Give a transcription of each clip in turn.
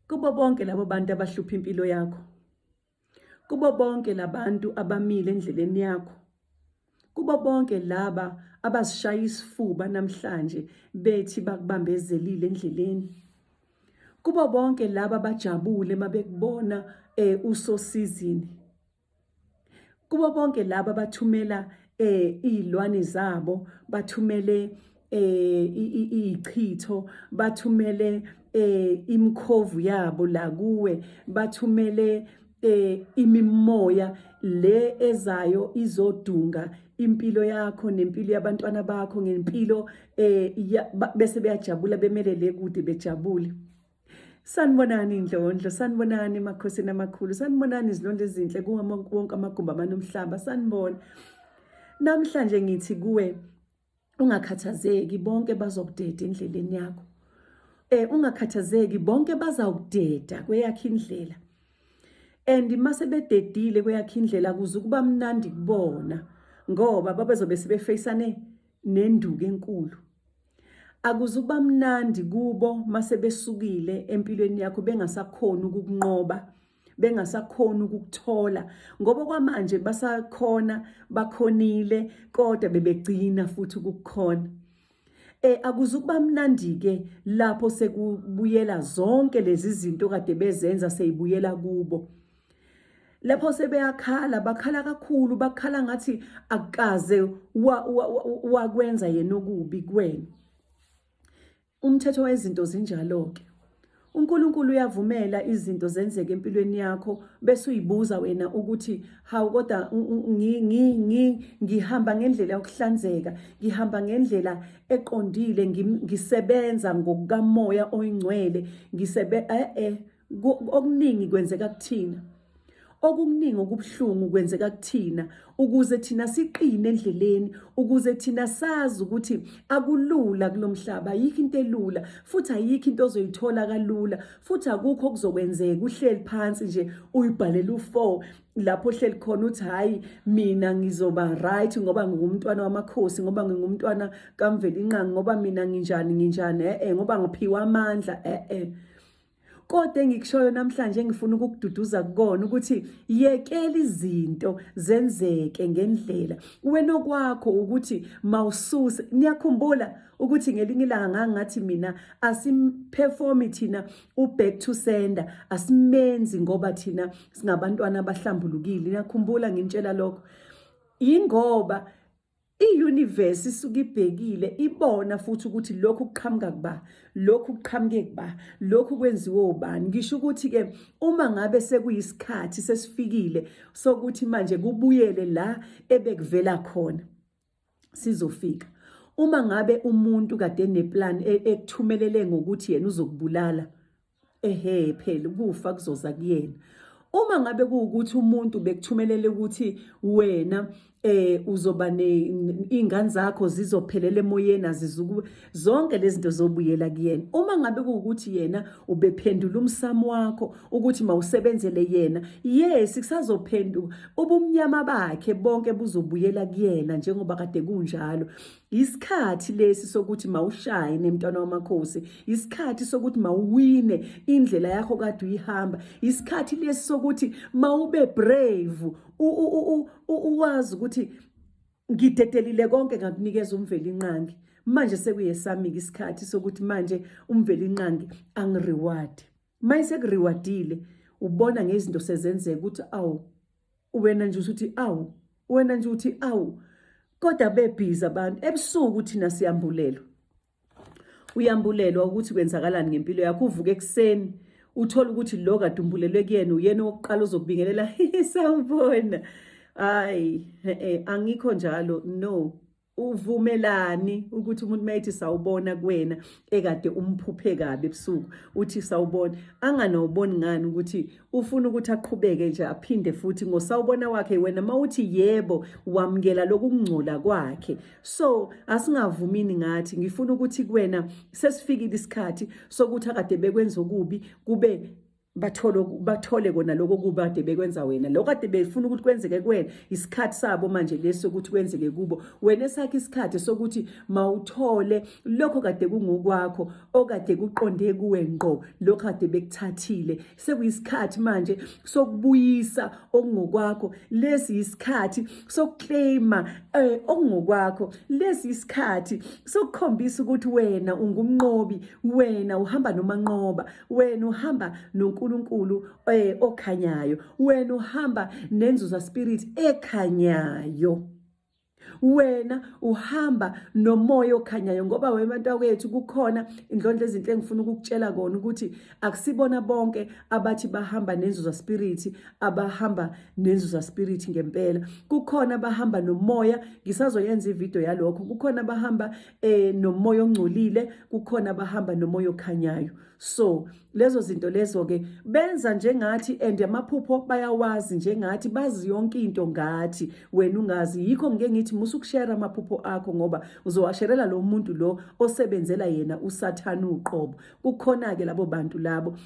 Kubo bonke labo bantu abahlupha impilo yakho. Kubo bonke labantu abamile endleleni yakho. Kubo bonke laba abazishaya isifuba namhlanje bethi bakubambezelile endleleni. Kubo bonke laba abajabule mabekubona eh usosizini. kubo bonke laba bathumela eh izilwane zabo bathumele eh ichitho bathumele eh imkhovu yabo la kuwe bathumele eh imimoya le ezayo izodunga impilo yakho nempilo yabantwana bakho ngempilo eh bese beyajabula bemelele kude bejabule Sanibonani indlondlo, sanibonani emakhosini amakhulu, sanibonani izilondlo ezinhle kuwo wonke amagumbi amanomhlaba, sanibona. Namhlanje ngithi kuwe ungakhathazeki bonke bazokudeda endleleni yakho. Eh ungakhathazeki bonke bazawukudeda kweyakhe indlela. And mase bededile kweyakhe indlela kuze ukuba mnandi kubona ngoba babezobe sebefacane nenduku enkulu. Akuzuba mnandi kubo mase besukile empilweni yakho bengasakhona ukukunqoba bengasakhona ukukuthola ngoba kwamanje basakhona bakhonile kodwa bebegcina futhi ukukhona eh akuzukuba mnandi ke lapho sekubuyela zonke lezi zinto kade bezenza seyibuyela kubo lapho sebeyakhala bakhala kakhulu bakhala ngathi akukaze wakwenza yena okubi kuwena umthetho wezinto zinjalo-ke uNkulunkulu uyavumela izinto zenzeke empilweni yakho bese uyibuza wena ukuthi hawu kodwa ngihamba ngendlela yokuhlanzeka ngihamba ngendlela eqondile ngisebenza ngokukamoya oyingcwele ngisebe eh, eh okuningi kwenzeka kuthina okuningi okubuhlungu kwenzeka kuthina ukuze thina siqine endleleni ukuze thina sazi ukuthi akulula kulomhlaba ayikho into elula futhi ayikho into ozoyithola kalula futhi akukho okuzokwenzeka uhleli phansi nje uyibhalela u4 lapho ohleli khona uthi hayi mina ngizoba right ngoba ngingumntwana wamakhosi ngoba ngingumntwana kamvelinqangi ngoba mina nginjani nginjani eh ngoba ngiphiwa amandla eh eh Kodwa engikushoyo namhlanje engifuna ukukududuza kukona ukuthi yekela izinto zenzeke ngendlela. Wena okwakho ukuthi mawususe. Niyakhumbula ukuthi ngelinye ilanga ngangathi mina asimperformi thina uback to sender asimenzi ngoba thina singabantwana abahlambulukile. Niyakhumbula ngintshela lokho. Yingoba I-universe isuke ibhekile ibona futhi ukuthi lokhu kuqhamuka kuba lokhu kuqhamuke kuba lokhu kwenziwe ubani ngisho ukuthi ke uma ngabe sekuyisikhathi sesifikile sokuthi manje kubuyele la ebekuvela khona sizofika uma ngabe umuntu kade neplan e, ekuthumelele ngokuthi yena uzokubulala ehe phela ukufa kuzoza kuyena uma ngabe kuwukuthi umuntu bekuthumelele ukuthi wena eh uzoba neingane zakho zizophelela emoyeni azizuku zonke lezi zinto zobuyela kuyena uma ngabe kuwukuthi yena ubephendula umsamo wakho ukuthi mawusebenzele yena yes kusazophenduka ubumnyama bakhe bonke buzobuyela kuyena njengoba kade kunjalo Isikhathi lesi sokuthi mawushaye nemntwana wamakhosi, isikhathi sokuthi mawuwine indlela yakho kade uyihamba, isikhathi lesi sokuthi mawube brave, uwazi ukuthi ngidedelile konke ngakunikeza umveli inqangi. Manje sekuyesami-ke isikhathi sokuthi manje umveli inqangi angireward. Manje sekuriwadile ubona ngezinto sezenzeka ukuthi awu wena nje usuthi awu wena nje uthi awu kodwa bebhizi abantu ebusuku thina siyambulelwa uyambulelwa ukuthi kwenzakalani ngempilo yakho uvuke ekuseni uthola ukuthi lo kade umbulelwe kuyena uyena owokuqala ozokubingelela sawubona hayi e-e, angikho njalo no uvumelani ukuthi umuntu mayethi sawubona kuwena ekade umphuphe kabi ebusuku uthi sawubona anganawuboni ngani ukuthi ufuna ukuthi aqhubeke nje aphinde futhi ngosawubona wakhe wena mawuthi yebo wamukela lokungcola kwakhe so asingavumini ngathi ngifuna ukuthi kuwena sesifikile isikhathi sokuthi akade bekwenza okubi kube bathole bathole kona lokho kubade bekwenza wena lokho kade befuna ukuthi kwenzeke kuwena isikhathi sabo manje leso ukuthi kwenzeke kubo wena esakhe isikhathi sokuthi mawuthole lokho kade kungokwakho okade kuqonde kuwe ngqo lokho kade bekuthathile sekuyisikhathi manje sokubuyisa okungokwakho lesi isikhathi sokuclaima eh, okungokwakho lesi isikhathi sokukhombisa ukuthi wena ungumnqobi wena uhamba nomanqoba wena uhamba noNkulunkulu eh, okhanyayo wena uhamba nenzuza spirit ekhanyayo wena uhamba nomoya okhanyayo ngoba webantu kwethu kukhona indlondla ezinhle engifuna ukukutshela kona ukuthi akusibona bonke abathi bahamba nenzuza spirit abahamba nenzuza spirit ngempela kukhona abahamba nomoya ngisazoyenza ivideo yalokho kukhona abahamba eh nomoya ongcolile kukhona abahamba nomoya okhanyayo so lezo zinto lezo ke benza njengathi and amaphupho bayawazi njengathi bazi yonke into ngathi wena ungazi yikho ngeke ngithi musa ukushare amaphupho akho ngoba uzowasherela lo muntu lo osebenzela yena usathana uqobo kukhona ke labo bantu labo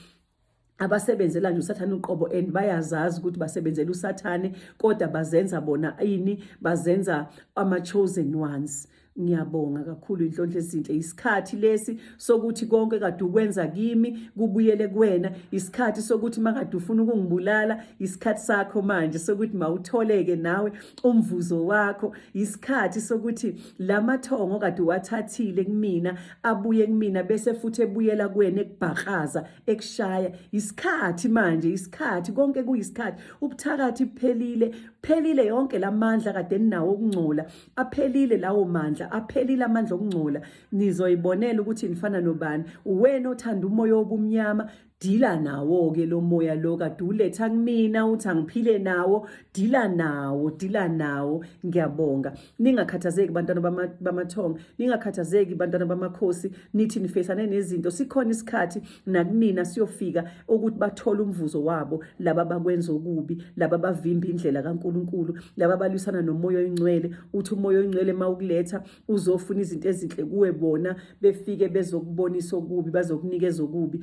abasebenzela nje usathane uqobo and bayazazi ukuthi basebenzela usathane kodwa bazenza bona ini bazenza ama chosen ones ngiyabonga kakhulu inhlonhle ezinhle isikhathi lesi sokuthi konke kade ukwenza kimi kubuyele kuwena isikhathi sokuthi makade ufuna ukungibulala isikhathi sakho manje sokuthi mawutholeke nawe umvuzo wakho isikhathi sokuthi lamathongo kade wathathile kumina abuye kumina bese futhi ebuyela kuwena ekubhakaza ekushaya isikhathi manje isikhathi konke kuyisikhathi ubuthakathi buphelile phelile yonke lamandla kade ninawo okungcola aphelile lawo mandla aphelile amandla okungcola nizoyibonela ukuthi nifana nobani uwena othanda umoya obumnyama dila nawo-ke lo moya lo kade uletha kumina uthi angiphile nawo dila nawo dila nawo ngiyabonga ningakhathazeki bantwana bamathongo ningakhathazeki bantwana bamakhosi nithi nifesane nezinto sikhona isikhathi nakunina siyofika ukuthi bathole umvuzo wabo laba bakwenza okubi laba bavimba indlela kaNkuluNkulu laba balwisana nomoya oyingcwele uthi umoya oyingcwele mawukuletha uzofuna izinto ezinhle kuwe bona befike bezokubonisa okubi bazokunikeza okubi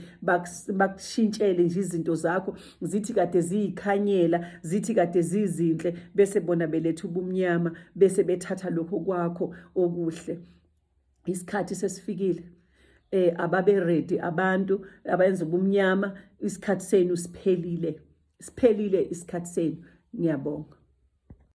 bakushintshele nje izinto zakho zithi kade ziyikhanyela zithi kade zizinhle bese bona beletha ubumnyama bese bethatha lokho kwakho okuhle isikhathi sesifikile eh ababe ready abantu abayenza ubumnyama isikhathi senu siphelile siphelile isikhathi senu ngiyabonga